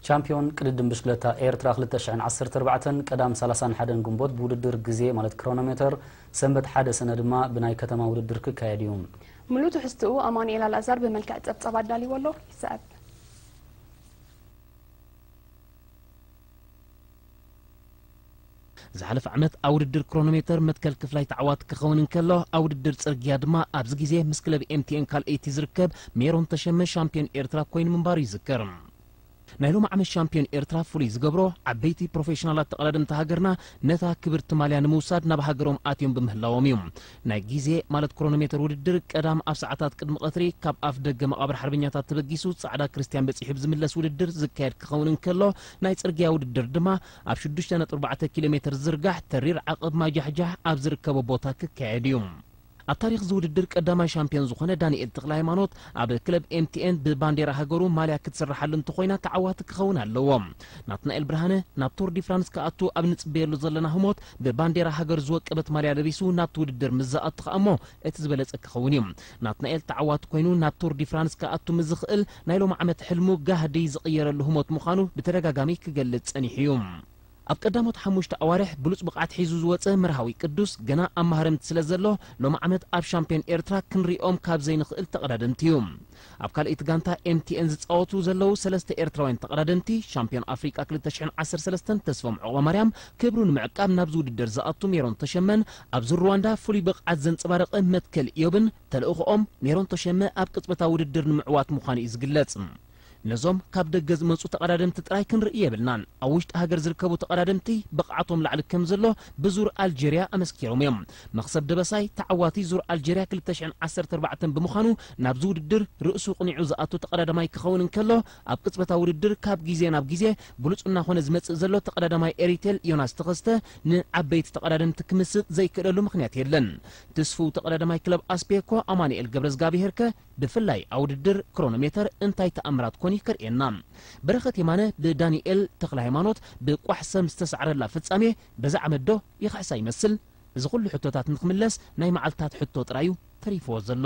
ቻምፕዮን ቅድድም ብሽክለታ ኤርትራ ክልተ ሽሕን ዓሰርተ ኣርባዕተን ቀዳም ሰላሳን ሓደን ግንቦት ብውድድር ግዜ ማለት ክሮኖሜተር፣ ሰንበት ሓደ ሰነ ድማ ብናይ ከተማ ውድድር ክካየድ እዩ። ምሉእ ትሕዝትኡ ኣማኑኤል ኣልኣዛር ብመልክዕ ጸብጻብ ኣዳልይዎ ኣሎ፣ ይስዕብ። ዝሓለፈ ዓመት ኣብ ውድድር ክሮኖሜተር መትከል ክፍላይ ተዓዋቲ ክኸውን እንከሎ ኣብ ውድድር ጽርግያ ድማ ኣብዚ ግዜ ምስ ክለብ ኤምቲኤን ካልኣይቲ ዝርከብ ሜሮን ተሸመ ሻምፕዮን ኤርትራ ኮይኑ ምንባሩ ይዝከር። ናይ ሎሚ ዓመት ሻምፕዮን ኤርትራ ፍሉይ ዝገብሮ ዓበይቲ ፕሮፌሽናላት ተቐዳደምቲ ሃገርና ነታ ክብርቲ ማልያ ንምውሳድ ናብ ሃገሮም ኣትዮም ብምህላዎም እዩ። ናይ ግዜ ማለት ክሮኖሜተር ውድድር ቀዳም ኣብ ሰዓታት ቅድሚ ቐትሪ ካብ ኣፍ ደገ መቓብር ሓርበኛታት ተበጊሱ ጻዕዳ ክርስትያን በጺሑ ብዝምለስ ውድድር ዝካየድ ክኸውን እንከሎ ናይ ጽርግያ ውድድር ድማ ኣብ ሽዱሽተ ነጥቢ ኣርባዕተ ኪሎ ሜተር ዝርጋሕ ተሪር ዓቐብ ማይ ጃሕጃሕ ኣብ ዝርከቦ ቦታ ክካየድ እዩ። ኣብ ታሪኽ እዚ ውድድር ቀዳማይ ሻምፕዮን ዝኾነ ዳኒኤል ተኽለሃይማኖት ኣብ ክለብ ኤምቲኤን ብባንዴራ ሃገሩ ማልያ ክትስረሓሉ እንተኾይና ተዓዋቲ ክኸውን ኣለዎ። ናትናኤል ብርሃነ ናብ ቱር ዲ ፍራንስ ክኣቱ ኣብ ንጽበየሉ ዘለና ህሞት ብባንዴራ ሃገሩ ዝወቀበት ማልያ ለቢሱ ናብቲ ውድድር ምስ ዝኣቱ ከኣ እሞ እቲ ዝበለጸ ክኸውን እዩ። ናትናኤል ተዓዋቲ ኮይኑ ናብ ቱር ዲ ፍራንስ ክኣቱ ምስ ዝኽእል ናይ ሎሚ ዓመት ሕልሙ ጋህዲ ዝቕየረሉ ህሞት ምዃኑ ብተደጋጋሚ ክገልጽ ጸኒሑ እዩ። ኣብ ቀዳሞት ሓሙሽተ ኣዋርሕ ብሉጽ ብቕዓት ሒዙ ዝወጸ መርሃዊ ቅዱስ ገና ኣብ ማህረምቲ ስለ ዘሎ ሎሚ ዓመት ኣብ ሻምፕዮን ኤርትራ ክንርእዮም ካብ ዘይንኽእል ተቐዳደምቲ እዩ። ኣብ ካልኣይቲ ጋንታ MTN ዝጻወቱ ዘለዉ ሰለስተ ኤርትራውያን ተቐዳደምቲ፣ ሻምፕዮን ኣፍሪቃ ክልተ ሽሕን ዓሰርተ ሰለስተን ተስፎም ዑቕባማርያም ክብሩ ንምዕቃብ ናብዚ ውድድር ዝኣቱ ሜሮን ተሸመን ኣብዚ ሩዋንዳ ፍሉይ ብቕዓት ዘንጸባረቐ መትከል ኢዮብን ተልእኾኦም ሜሮን ተሸመ ኣብ ቅጽበታዊ ውድድር ንምዕዋት ምዃኑ እዩ ዝግለጽ። ነዞም ካብ ደገ ዝመጹ ተቐዳደምቲ ጥራይ ክንርኢ የብልናን። ኣብ ውሽጢ ሃገር ዝርከቡ ተቐዳደምቲ ብቕዓቶም ላዕሊ ከምዘሎ ብዙር ኣልጀርያ ኣመስኪሮም እዮም። መኽሰብ ደበሳይ ተዓዋቲ ዙር ኣልጀርያ ክልተ ሽሕን ዓሰርተ ኣርባዕተን ብምዃኑ ናብዚ ውድድር ርእሱ ኣቕኒዑ ዝኣቱ ተቐዳዳማይ ክኸውን እንከሎ፣ ኣብ ቅጽበታዊ ውድድር ካብ ግዜ ናብ ግዜ ብሉጽ እናኾነ ዝመጽእ ዘሎ ተቐዳዳማይ ኤሪቴል ዮናስ ተኸስተ ንዓበይቲ ተቐዳደምቲ ክምስጥ ዘይክእለሉ ምኽንያት የለን። ትስፉው ተቐዳዳማይ ክለብ ኣስፔኮ ኣማኑኤል ገብረዝጋብሄርከ ብፍላይ ኣብ ውድድር ክሮኖሜተር እንታይ ተኣምራት ኮን እዩ ከርእየና? በረኸት የማነ ብዳኒኤል ተኽለሃይማኖት ብቋሕ ሰም ዝተሳዕረላ ፍጻሜ በዚ ዓመት'ዶ ይኽሕሳ ይመስል እዚ ኩሉ ሕቶታት ንኽምለስ ናይ መዓልትታት ሕቶ ጥራይ'ዩ ተሪፍዎ ዘሎ።